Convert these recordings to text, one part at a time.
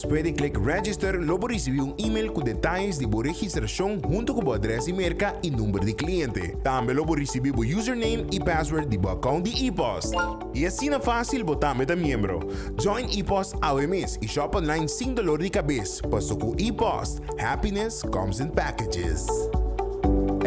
Despues di klik Register lo bo risibi un email ku detayes di bo registrashon huntu ku bo adrès di merka i number di kliente. Tambe lo bo risibi bo username i password di bo akount di e-post. I asina fásil bo tambe ta miembro! Join e-post awe mes i shop online sin dolor di kabes, paso ku e-post, happiness comes in packages.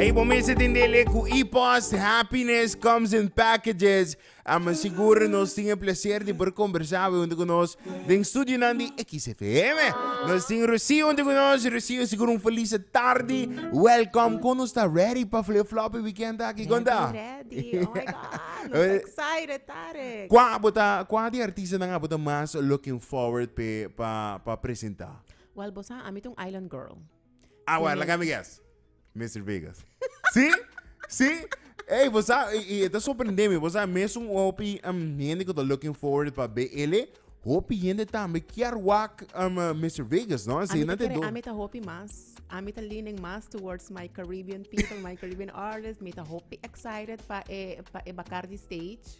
Ey, bo mester tendé lei ku e-post, happiness comes in packages. Amen sigur nos tin e plecer di por combersa awe hunto cu nos den studionan di XFM. Nos tin Rocio hunto cu nos. Rocio, sigur un felice tardi. Welcom. Con nos ta ready pa flip floppy weekend aki? Con ta? Ready, ready. Oh my God, nos ta excited, Tarek. Cua bo ta, cua di artistanan abo ta mas looking forward pe pa, pa presenta? Well, bo sa, ami ta un island girl. Awa, laga mi guess. Mr. Vegas. Si? Si? Ey, vos sa, y esta sorprende mi, vos sa, mes un hopi um, gente que está looking forward para ver ele, hopi gente también quiere wak um, uh, Mr. Vegas, no? Así no te do. Ami ta hopi mas. Ami ta leaning mas towards my Caribbean people, my Caribbean artists. Mi ta hopi excited pa e, pa e Bacardi stage.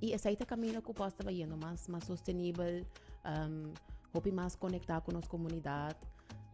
I esei ta camino cu bos ta bayendo mas mas sostenibel, hopi mas conecta cu nos comunidad.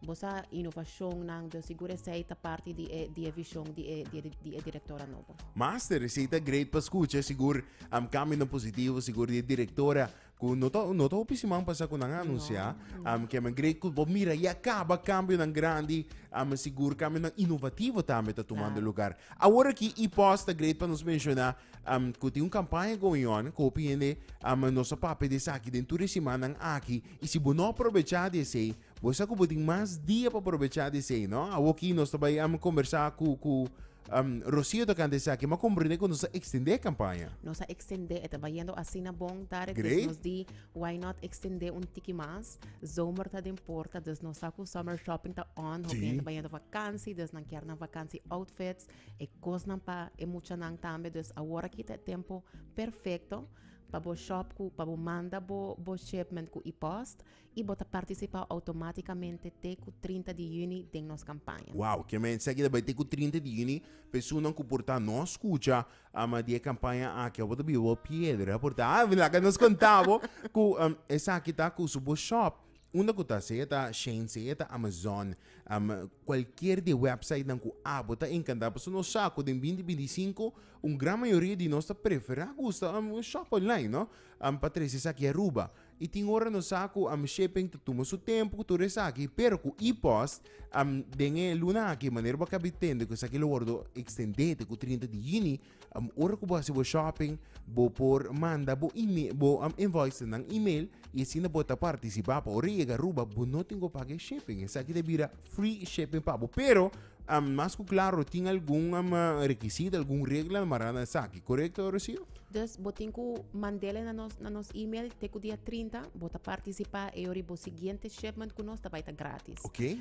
Bo sa innovacionnan, den sigur esei ta parti di e di e vision di e di e directora nobo. Master, esei ta great pa scucha, sigur cambinan positivo, sigur di e directora Ku no ta no ta hopi siman pasa ku nan a anunsiá am ke men grei ku bo mira ya kaba kambionan grandi a men sigur kambionan inovativo tambe ta tumando Klaro. lugar. Awor aki i pos ta great pa nos menshoná am ku tin un kampaña going on ku hopi hende am nos a papia di esaki den tur e simannan aki i si bo no a probechá di esei bo sa ku bo tin mas dia pa probechá di esei no. Awoki nos ta bai am kombersá ku ku Um, Rocio ta canta esaki, ma comprende cu nos a extende e campaña. Nos a extende, e ta bayendo asina bon, Tarek. Great. Dus nos di, why not extende un tiki mas? Zomer ta den porta, dus nos sa cu summer shopping ta on. Hopi Si. ta bayendo vakantie, dus nan kier nan vakantie outfits. E cosnan pa e muchanan tambe. Dus awor aki ta e tempo perfecto pa bo shop cu, pa bo manda bo, bo shipment cu e-post. y bo ta participa automaticamente te cu trinta di juni den nos campaña. Wow, kier mensha aki ta bay te cu trinta di juni, personan cu por ta no scucha ama di e campaña aki abo ta biba bo piedra, por ta a laga nos conta bo cu esaki ta cu su bo shop unda cu ta sea ta Shein sea ta Amazon am cualkier di e websitenan cu abo ta encanta pasobra nos sa cu den binti binti sinku un gran mayoria di nos ta prefera gusta un shop online no am pa trece esaki Aruba. I tin ora nos sa ku am shipping ta tuma su tempu ku tur esaki, pero ku e-post am den e luna aki manera bo a kabi tende ku esaki lo wordo ekstendé te ku trinta di yuni, am ora ku bo hasi bo shopping bo por manda bo email bo invoices nan email i asina bo ta partisipá pa ora e yega Aruba bo no tin ku paga e shipping, esaki ta bira free shipping pa bo pero Mas ku klaro, tin algun rekisito, algun regla mará na esaki, korekto, Rocío? Dus bo tin ku mand'e na nos na nos email te ku dia trinta bo ta partisipá e ora bo siguiente shipment ku nos ta bai ta grátis. Oké.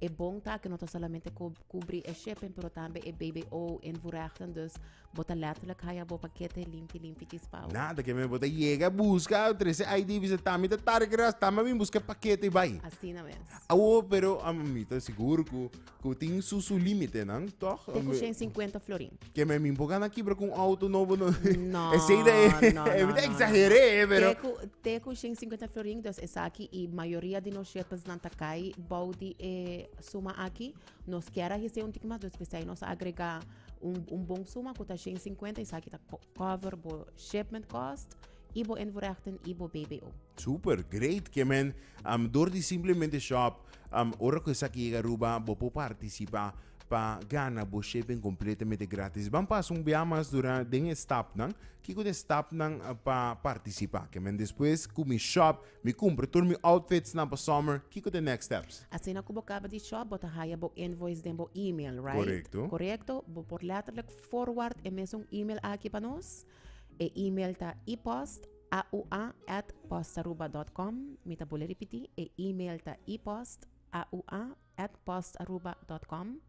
E bon ta ku no ta solamente kubri e shipping pero tambe e bbo en voorrechten, dus Bo ta letterlijk haya bo pakete limpi limpi chispao. Nada ke me bo ta yega buska trese ID bisa tami ta tarde ke ras tami bin buska pakete bai. Asina mes. Awo pero a mi ta sigur ku ku tin su su límite nan toch? Te ku shen 50 florin. Ke me min bo gana kibra ku un auto nobo no. No. Esei da e no no e mi ta no no. exageré pero Te ku te ku shen 50 florin dus esaki i mayoria di nos shirtles nan ta kai bou di e suma aki Nos kier a hesei un tiki mas dus pesei nos a agrega un un bon suma ku ta shen sinkuenta esaki ta cover bo shipment cost i bo invoerhechting i bo bbo. Super, great ke men, am dor di simplemente shop am ora ku esaki yega Aruba bo por partisipa pa gana bo shipping kompletamente gratis. Ban pasa un biaha mas dura den e stapnan, kiko ta e stapnan pa partisipa ke men despues ku mi shop Mi cumpra tur mi outfits nan pa summer, kico ta e next steps? Asina cu bo caba di shop, bo ta haya bo invoice den bo email, right? Correcto. Correcto? Bo por letterlijk forward e mesun email aki pa nos. E email ta epost, aua, at postaruba dot com. Mi ta bole ripiti, e email ta epost, aua, at postaruba.com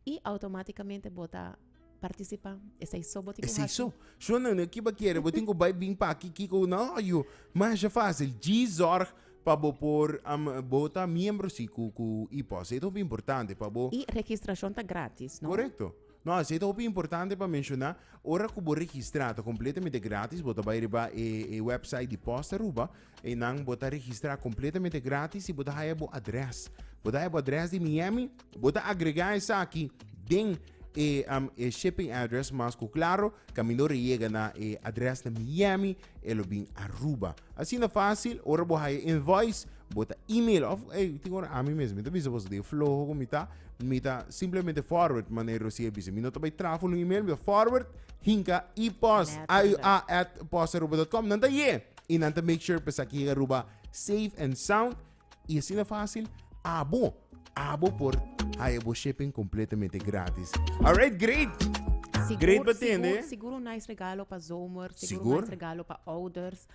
y automáticamente bo ta participa esei so bo tin ku hasi. Esiso. Sho nan nan kiba kere, bo tin ku bai bin pa aki kiko no yo. Masha fácil, G zorg pa bo por am bo ta miembro si ku ku IPOS. E ta hopi importante pa bo. Y registracion ta gratis, no? Correcto. No, esei ta hopi importante pa menshoná, ora ku bo registrá ta completamente gratis, bo ta bai riba e e website di Post Aruba, Einan bo ta registra completamente gratis y bo ta haya bo adres. Bo ta haya bo adres di Miami, bo ta agrega esaki den e, um, e shipping address mas cu claro, camindo re yega na e adres na Miami, e lo bin Aruba. Asina facil, ora bo haya invoice, bo ta email of, hey, tin ora ami mes, mi ta bisa boso de floho cu mi ta, mi ta simplemente forward, manera Rosie bisa, mi no ta bay traha ful un email, mi ta forward, hinca, ipost, Net, iua, at, postaruba.com, nan ta ye! y nan ta make sure pa esaki yega Aruba safe and sound y asina fácil abo abo por haya bo shipping completamente gratis. Alright, great. Sigur, Great pa tende. Sigur, sigur un nice regalo pa zomer. Sigur, Sigur. un nice regalo pa ouders.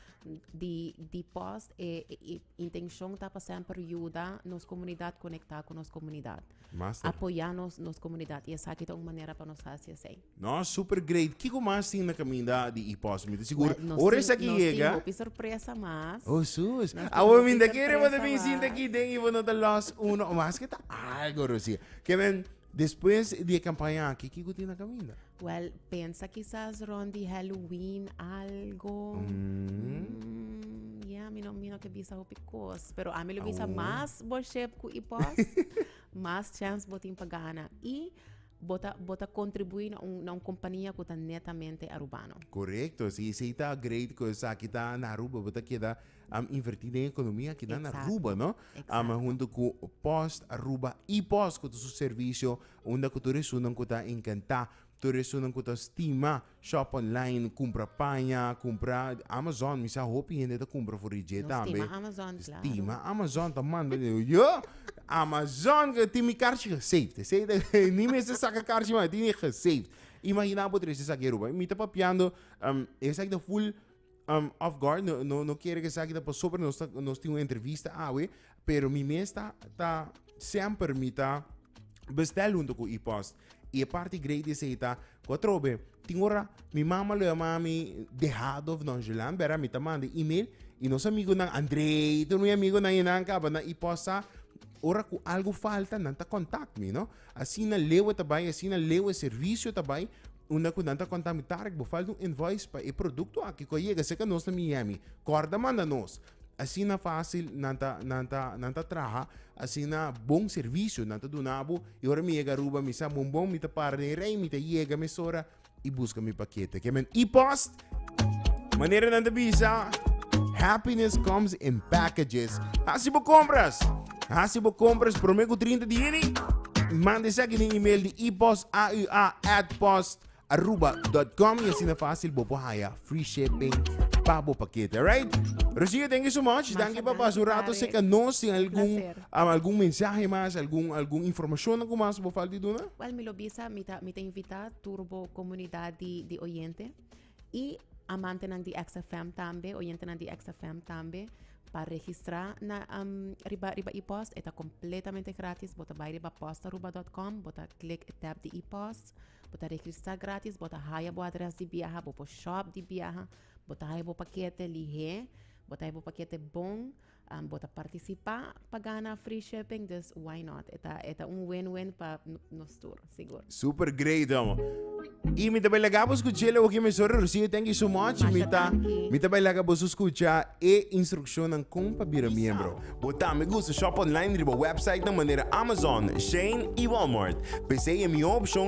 Di, di post e, e, e Intencion ta pa semper yuda nos comunidad conecta cu nos comunidad. Master. Apoya nos, nos comunidad. Y esaki ta un manera pa nos haci esey. No, super great. Kico mas tin na caminda di e post? Mi ta sigur. Well, nos Ora tin- esaki nos tin yega. hopi sorpresa mas. Oh, sus. Nos Awo tin mi hopi ta kere sorpresa bote mi sinta mas. ki den i bo no ta lost uno o mas ke ta algo, Rosie. Ke men Despues di e campaña aki, kico tin na caminda? Well, pensa kisas rond di Halloween algo. Mm. Yeah, mi no, mi no ke bisa hopi kos. Pero a mi lo bisa Awo. mas worship ku i pos, mas chance bo tin pa gana. I bota, bota contribui na un, na un compania ku ta netamente arubano. Correcto, si si ta great cosa kita na Aruba, bota queda Am inverti den ekonomia akinan na Aruba, no? Am huntu ku Post Aruba iPost ku ta su servisio unda ku tur esunnan ku ta enkantá, tur esunnan ku ta stima shòp online, kumpra paña, kumpra Amazon, mi sa hopi hende ta kumpra for di dje tambe. Nos tima Amazon, claro. Tima Amazon ta manda den yo Amazon ke tin mi karchi gesaved, esei ni mester ta saka karchi mas tin e gesaved. Imaginá bo trese esaki Aruba. Mi ta papiando esaki ta full. Um, off guard, no, no, no quiere que sa que por sobre nos, nos tiene una entrevista awe, pero mi mes ta, ta siempre mi ta bestel junto con e-post. Y e parte great is eta, cuatrobe, tin ora mi mama lo llama mi dejado of nonchalant, bera mi ta manda email y nos amigo nan Andrey, tu mi amigo nan y nan caba nan e-post sa, ora cu algo falta nan ta contact mi, no. Asina lewe ta bai, asina lewe servisio ta bai, unda ku nan ta konta mi, Tarek, bo falta un invoice pa e produkto aki ku a yega serka nos na Miami. Kòrda manda nos. Asina fásil nan ta nan ta nan ta traha, asina bon servisio nan ta duna bo. I ora mi yega Aruba mi sa bon bon, mi ta para den rei, mi ta yega mesora. y busca mi paquete. Que men e-post. Manera nan te bisa. Happiness comes in packages. Hasi bo compras. Hasi bo compras prome ku 30 di juni. Mande seki ni email di e-post aua at post aruba.com y asina fácil bo por haya free shipping pa bo paquete, alright? Rocio, thank you so much. Thank you pa pas un rato seca nos sin algún um, algún mensaje más, algún algún información na kumas bo falti duna. Well, mi lo bisa, mi ta mi ta invita tur bo comunidad di di oyente y amantenan di XFM tambe oyentenan di XFM tambe pa registra na riba riba epost e ta completamente gratis bo ta bay riba postaruba dot com bo ta click e tab di epost bo ta registra gratis bo ta haya bo adres di biaha bo por shop di biaha bo ta haya bo paquete lihe bo ta haya bo paquete bon Bo ta participa pa gana free shipping dus why not e ta e ta un win win pa nos tur sigur. Super great amo. Y mi ta bai laga bo scucha lo que mi sorry Rocio thank you so much. Masha Mi ta danki. mi ta bai laga bo su scucha e instruccionnan con pa bira miembro. Bo tambe gusta shop online riba websitenan manera Amazon, Shein y Walmart. P'esey e miho opcion